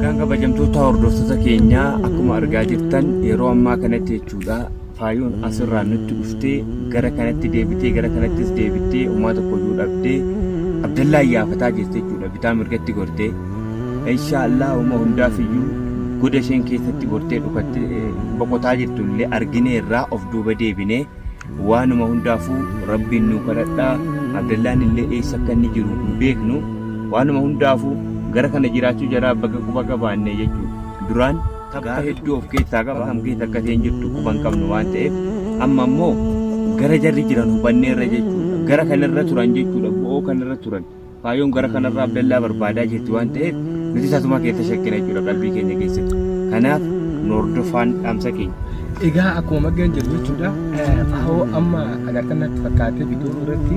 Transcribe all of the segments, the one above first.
Kan kabajamtoota hordoftoota keenyaa akkuma argaa jirtan yeroo ammaa kanatti jechuudha faayoon asirraa nutti dhuftee gara kanatti deebitee gara kanattis deebitee homaa tokko iyyuu dhabdee Abdallaa iyyaafataa jirti jechuudha bitaa mirgatti gortee. Inshaa'Allah homa hundaaf iyyuu goda isheen keessatti gortee dhukatte boqotaa jirtu illee arginee irraa of duuba deebinee waanuma hundaafuu rabbiin nuu kadhadhaa abdallaan illee eessa akka inni jiru hin beeknu waanuma hundaafuu gara kana jiraachuu jaraa baga quba qabaanne jechuudha duraan tabba hedduu of keessaa qaba kam keessa akka isheen jirtu quba hin qabnu waan ta'eef amma immoo gara jarri jiran hubanneerra jechuudha gara kanarra turan jechuudha bo'oo kanarra turan Faayoon gara kanarraa Abdallaa barbaadaa jirti waan ta'eef nuti tasuma keessa shakkina jechuudha qalbii keenya keessatti. Kanaaf nu hordofaan dhaamsa keenya. Egaa akkuma maggeen jedhu jechuudha faayoo amma agartan natti fakkaatee bidiruu irratti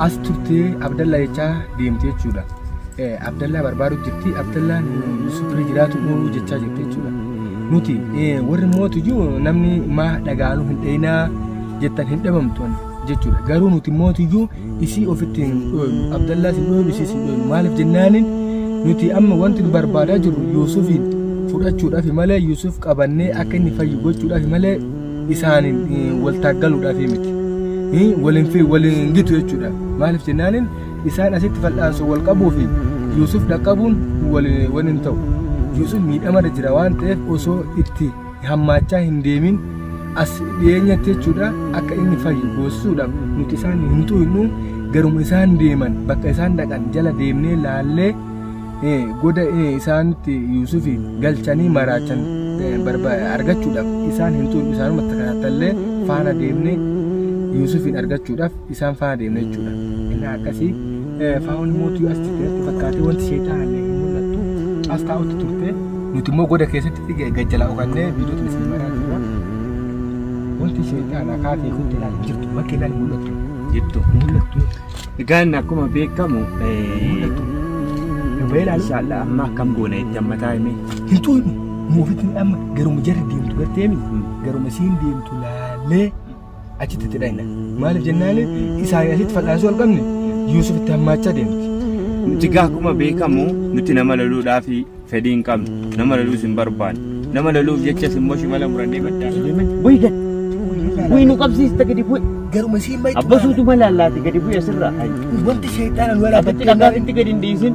as turtee Abdallaa jechaa deemte jechuudha. Abdallaa barbaaduu jirti Abdallaa Yusuf bira jiraatu uumuu jechaa jirti jechuudha. Nuti warri mootu jiru namni maa dhagaanuu hin dhayinaa jettan hin dhabamtu. jechuudha. Garuu nuti mootiyyuu isii ofitti hin dhooynu. Abdallaas hin dhooynu isiis hin dhooynu. Maaliif jennaanin nuti amma wanti nu barbaadaa jirru Yuusufiin fudhachuudhaaf malee Yuusuf qabannee akka inni fayyu gochuudhaaf malee isaaniin eh, wal taaggaluudhaaf miti. Eh, Waliin fi waliin gitu jechuudha. Maaliif jennaanin isaan asitti fal'aansoo wal qabuu fi Yuusuf dhaqqabuun wal- waliin ta'u. Yuusuf miidhamarra jira waan ta'eef osoo itti hammaachaa hin deemin as dhiyeenyatti jechuudha akka inni fayyu goosisuudhaaf nuti isaan hin tuqnu garuma isaan deeman bakka isaan dhaqan jala deemnee laallee eh, goda eh, isaanitti Yuusufi galchanii maraachan eh, barba- argachuudhaaf isaan hin tuqnu isaanuma takkaattallee faana deemnee Yuusufiin argachuudhaaf isaan faana deemna jechuudha. Innaa akkasii eh, Faa'oon immoo utuu as jirte natti fakkaatee wanti seexaanaan hin mul'attu as taa'utti turte. Nuti immoo goda keessatti fige- gad jalaa dhokannee viidiyoota isin maraa jirra. Wanti seexaanaa kaatee kun jalaa hin jirtu bakka ilaalu hin mul'attu. Jirtu. Hin mul'attu. Egaan akkuma beekamu Mul'attu. Dubbee ilaalu. Inshallah amma akkam goona itti amma taa'ime. Hin tuutu. Muufitti amma garuma jarri deemtu garteemi. Garuma isiin deemtu laallee achitti itti dhayna maaliif jennaani isaanii asitti fal'aansuu hin qabne yuusuf itti hammaachaa deemti Nuti egaa akkuma beekamu nuti nama loluudhaaf fedhii hin qabnu. Nama loluus hin barbaanne. Nama loluuf jechas immoo shimala murannee baddaa. Bu'i gad. Bu'i nu qabsiista gadi bu'i. garuma siin mayi Abbasuutu mala allaati gadi bu'i asirraa. wanti sheexaana nu Asitti dhagaatitti gadi hin dhiisin.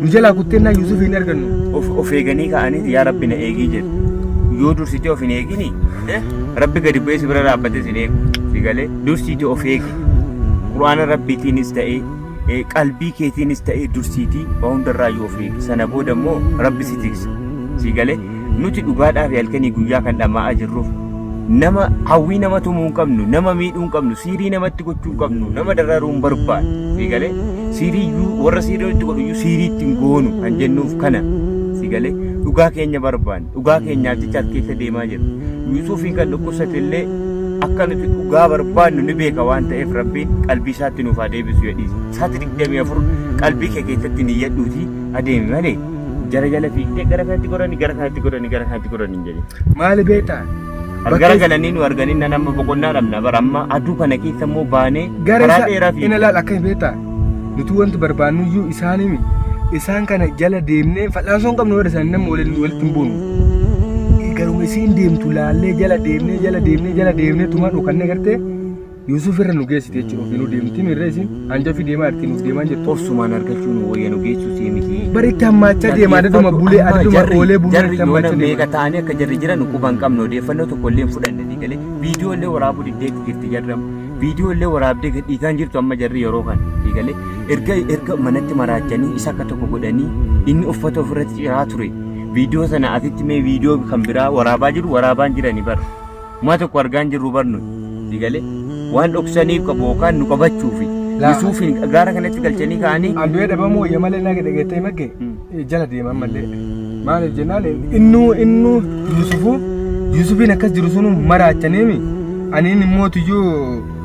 nu jalaa kutteennaa Yuusuf hin argannu. Of, of eeganii ka'aniiti yaa rabbi na eegii jedhu. Yoo dursitee of hin eegini eh, rabbi gadi bu'ee si bira dhaabbatee sin eegu. Si galee dursiitii of eegi. Qur'aana rabbiitiinis ta'ee eh, qalbii keetiinis ta'ee dursiitii waa hundarraa yoo of eegi. Sana booda immoo rabbi si tiksa. Si galee Nuti dhugaadhaa fi halkanii guyyaa kan dhama'aa jirruuf nama hawwii nama tumuu hin qabnu, nama miidhuu hin qabnu, siirii namatti gochuu hin qabnu, nama dararuu hin barbaadu. Si galee? Siirii iyyuu warra siirii nutti godhu iyyuu siirii itti hin goonu kan jennuuf kana. Si galee? Dhugaa keenya barbaanna. Dhugaa keenyaaf jecha as keessa deemaa jirra. Yuusuufiin kan dhukkubsate illee akka nuti dhugaa barbaannu ni beeka waan ta'eef Rabbiin qalbii isaatti nuuf haa deebisu jedhiisa. Sa'aatii 24 qalbii kee keessatti niyyadhuutii adeemi malee Jara jala fiigdee gara kanatti gorani gara kanatti gorani gara kanatti gorani hin jedhin. Maali beektaa? As gara galanii nu arganii nan amma boqonnaa dhabna bara amma aduu kana keessa immoo baanee Gara karaa isaa dheeraa hin fiigna. ilaal akka hin beektaa? Nuti wanti barbaannu iyyuu isaan himi. Isaan kana jala deemnee fal'aansoo hin qabnu warra isaanii nama waliin walitti hin buunu. Garuma isiin deemtu laallee jala deemnee jala deemnee jala deemnee tumaan dhokannee gartee Yuusuf irra nu geessite jechuudha ofii nu deemti mirra isin hanjafii deemaa irti nuuf deemaa jirtu. Obsumaan argachuu nu wayya nu geessuu sii miti. Bari itti hammaachaa deema adaduma bulee adaduma oolee buluu itti hammaachaa deema. Meeqa ta'anii akka jarri jiran quba hin qabnu odeeffannoo tokko illee hin fudhanne ni galee viidiyoo illee waraabuu diddeetti jirti jarri amma viidiyoo illee waraabdee gad dhiigaan jirtu amma jarri yeroo kana ni galee erga erga manatti maraachanii isa akka tokko godhanii inni uffata ofirratti ciraa ture viidiyoo sana asitti mee viidiyoo kan biraa waraabaa jiru waraabaan jirani bara. Homaa tokko argaa hin jirru barnu digalee waan dhoksaniif qabu yookaan nu qabachuufi. Laa. Yusuufiin gaara kanatti galchanii kaa'anii An du'ee dhabamuu wayya malee naa dhageettee magge jala deeman malee. Maaliif jennaan innuu innuu Yusufu Yusufiin akkas jiru sunu maraachaniimi. Aniin immoo tuyyuu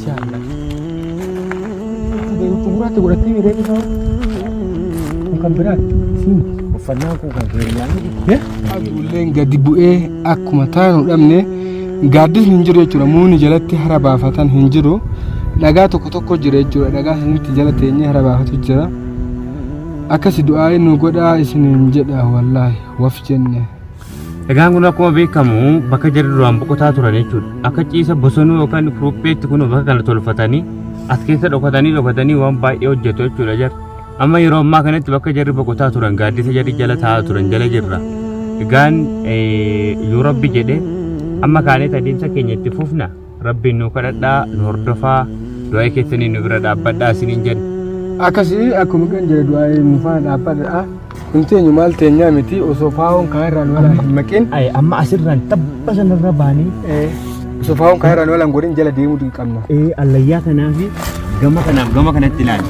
Si haadha. Utuu gurraatti godhattee miidhee bifa. Kun kan biraati. Siin. Uffannaan kun kan keenyaa miti. Aduulleen gadi bu'ee akkuma taanu dhabne gaaddisni hin jiru jechuudha. Muuni jalatti hara baafatan hin jiru. Dhagaa tokko tokko jira jechuudha. Dhagaa sanitti jala teenyee hara baafatu jira. Akkasi du'aa nu godhaa isiniin jedha wallaahi waf jenne. Egaan kun akkuma beekamu bakka jarri duraan boqotaa turan jechuudha. Akka ciisa bosonuu yookaan kuruupheetti kun bakka kana tolfatanii as keessa dhokatanii dhokatanii waan baay'ee hojjetu jechuudha jarri. Amma yeroo ammaa kanatti bakka jarri boqotaa turan gaaddisa jarri jala taa'aa turan jala jirra. Egaan yoo rabbi jedhe amma kaaneet adeemsa keenya itti fufna. rabbiin nuu kadhadhaa nu hordofaa du'aa'ii keessaniin nu bira dhaabbadhaa isiniin jenna. Akkasii akkuma kan jedhe du'aa'ii nu faana dhaabbadhaa. Kun teenyu maal teenyaa miti osoo faa'oon kaa irraan walaa hin maqin. Ay, amma asirraan tabba sanarra baanee Eh, Osoo faa'oon kaa irraan walaan godhin jala deemuu dirqamna. ee, allayyaa kanaa fi gama kanaaf gama kanatti ilaali.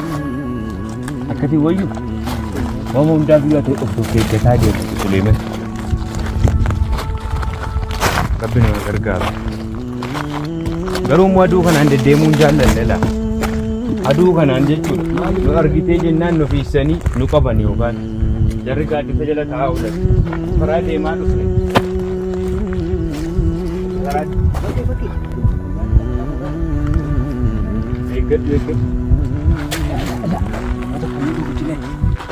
Akkati wayyu waan hundaa biyyaa ta'e of of eeggataa deemu Suleeman. Rabbi nama gargaara. Garuu immoo aduu kanaan deddeemuu hin jaallanne laa. Aduu kanaan jechuun nu argitee jennaan nu fiissanii nu qaban yookaan jarri gaaddisa jala taa'aa oolan. Karaa deemaa dhufne. Karaa eeggadhu eeggadhu. Mata kan nuti guddinee.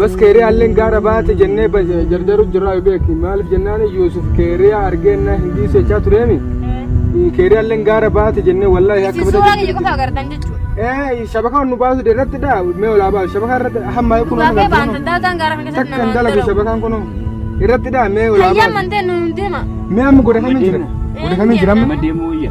Bas keeriyaalleen gaara baate jennee jarjaru jirraa yoo beeki maaliif jennaan Yuusuf keeriyaa argeenna hin dhiisu jechaa tureemi keeriyaalleen gaara baate jennee wallaahi akka Isin suuraa kiyya qofa agartan jechuudha. Ee shabakaa nu baasu irratti dha mee olaa baasu shabakaa irratti hamma kun Dhugaa kee baantan dalataan gaara kana keessatti takkan namaan dalagu dalagu. shabakaan kun irratti dha mee olaa Hayyaan baasu mantee nuun deema. mee amma godhakamee jira godhakamee jira amma Nama deemuu wayya.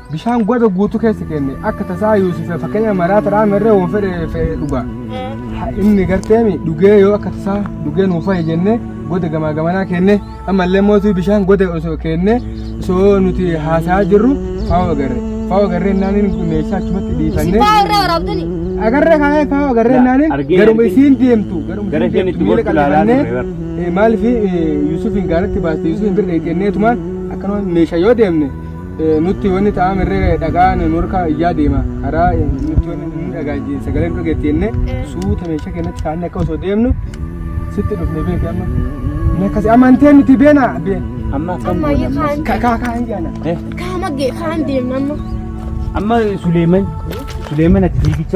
Bishaan goda guutuu keessa kenne akka tasaa Yuusufe fakkeenya maraata raame irra waan fedhe fedhe dhuga. Ha- Inni garteemi dhugee yoo akka tasaa dhugee nuuf fa'i jenne goda gamaa gamanaa kenne ammallee mootii bishaan goda osoo kenne osoo nuti haasa'aa jirru faa'oo agarre. Faa'oo agarree naaniin meeshaa achumatti dhiifanne. Sifaa irraa waraabdani. Agarree kaa'ee faa'oo agarree Laa, naaniin argee garuma argee. isiin deemtu garuma Gara isiin isheen deemtu itti miila gortu ilaalaa qal'ifannee turre Eh, maaliif eh, Yuusufiin gaaratti baaste Yuusufiin bira dheetteenneetumaan akkanuma meeshaa yoo deemne Nutti wanni ta'ame irree dhagaan nu harkaa iyyaa deema. Karaa nutti wanni nu dhagaa sagalee nu dhageetti jennee suuta meeshaa keenyatti kaanne akka osoo deemnu sitti dhufne beeki amma. Inni akkasi amantee nuti beena beena. Amma akkam Amma goona ammas? yookaan Kakaa kaa hin jaana. Eh, kaama gee kaan deemna amma. Amma Suleeman Suleeman ati fiigicha